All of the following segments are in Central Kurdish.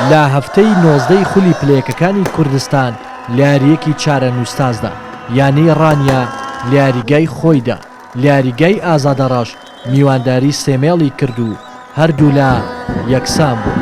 لە هەفتەی نۆزدەی خولی پلەیەکەکانی کوردستان لە یارییەکی چارەنووسسازدا، یانەی ڕانیە لە یاریگای خۆیدا، لە یاریگای ئازادەڕەش میوانداری سێمێڵی کرد و هەردوولا یەکسانبوون.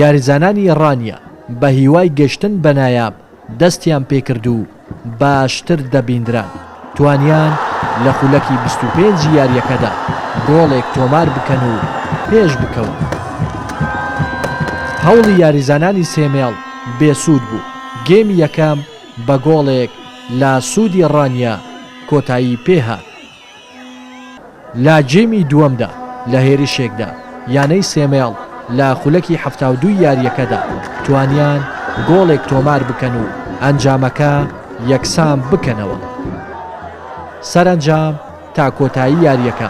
یاریزانانی ڕانیە بە هیوای گەشتن بە نایاب دەستیان پێکرد و باشتر دەبیندران، توانیان لە خولەکی بیست و پێنج ی یارییەکەدا گۆڵێک تۆمار بکەن و پێش بکەون. هەوڵی یاریزانانی سێ مێڵ بێسوود بوو، گێمی یەکەم بە گۆڵێک لاسوودی ڕانیە کۆتایی پێهات. لە گێمی دووەمدا لە هێرشێکدا یانەی سێمێڵ لە خولەکی حەفتا و دوو یارییەکەدا توانیان گۆڵێک تۆمار بکەن و ئەنجامەکە یەکسان بکەنەوە. سەرەنجام تا کۆتایی یارییەکە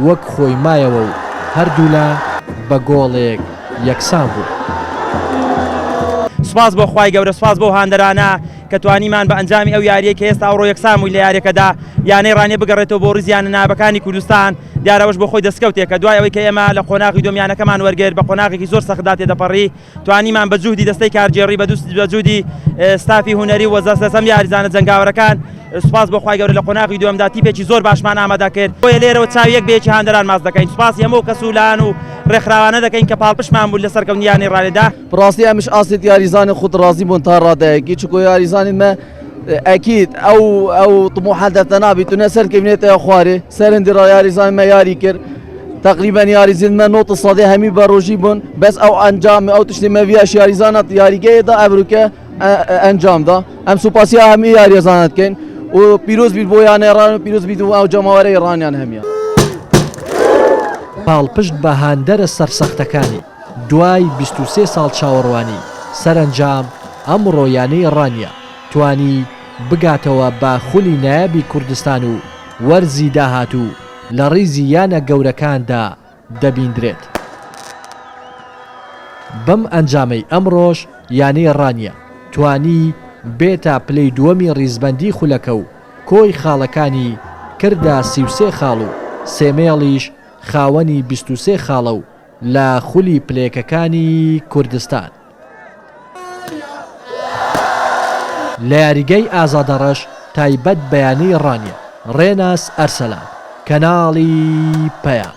وەک خۆی مایەوە و هەردوولا بە گۆڵێک یەکسان بوون. سوپاس بۆ خوای گەورە سوپاس بەو هاندەرانە. کە توانیمان بە ئەنجامی ئەو یارییەی کە هێستا ئەوڕۆ یەکسان بووین لە یارییەکەدا یانەی ڕانیە بگەڕێتەوە بۆ ڕیزی یانە نایابەکانی کوردستان، دیارە ئەوەش بۆ خۆی دەستکەوتێکە، دوای ئەوەی کە ئێمە لە قۆناغی دووەم یانەکەمان وەرگرت بە قۆناغێکی زۆر سەختدا تێدەپەڕی، توانیمان بە جوهدی دەستەی کارگێڕی بە جوهدی ستافی هونەری و سەرجەم یاریزانە جەنگاوەرەکان سوپاس بۆ خوای گەورە لە قۆناغی دووەمدا تیپێکی زۆر باشمان ئامادە کرد، بۆیە لێرەوە چاوی یەک بە یەکی هاندەران ماچ دەکەین، سوپاسی هەموو ئەو کەس و لایەن و ڕێکخراوانە دەکەین کە پاڵپشتمان بوون لە سەرکەوتنی یانەی ڕانێدا. بڕاستی ئەمش ئاستێت یاریزانانی خود ڕازی بوون تا ڕادەیەکی چکۆ یاریزانانی مە ئەکییت ئەو ئەو تموحە دەتە نابیت و نەسەر کەبنێتە خوارێ سەرندی ڕا یاریزانانی مە یاری کرد تقریبا یاریزین مە نۆتە سادێ هەمی بە ڕۆژی بوون بەس ئەو ئەنجام ئەو تشتی مەویش یاریزانات یاریگەیەدا ئەبروکە ئەنجامدا ئەم سوپاسی هەمی یاریزانات کەین و پیرۆز بیر بۆ یانە ڕان و پیرۆز بیر و ئەو جەماوەرەی ڕانیان هەمیە. پاڵپشت بە هاندەرە سەرسەختەکانی. دوای بیست و سێ ساڵ چاوەڕوانی، سەرەنجام ئەمڕۆ یانەی ڕانیە توانی بگاتەوە بە خولی نایابی کوردستان و وەرزی داهاتوو لە ڕیزی یانە گەورەکاندا دەبیندرێت. بەم ئەنجامەی ئەمڕۆش یانەی ڕانیە توانی بێتە پلەی دووەمی ڕیزبەندی خولەکە و کۆی خاڵەکانی کردە سی و سێ خاڵ و سێمێڵیش خاوەنی بیست و سێ خاڵە و لە خولی پلەیەکەکانی کوردستان لە یاریگای ئازادە ڕەش تایبەت بە یانەی ڕانیە ڕێناس ئەرسەلان کەناڵی پەیام.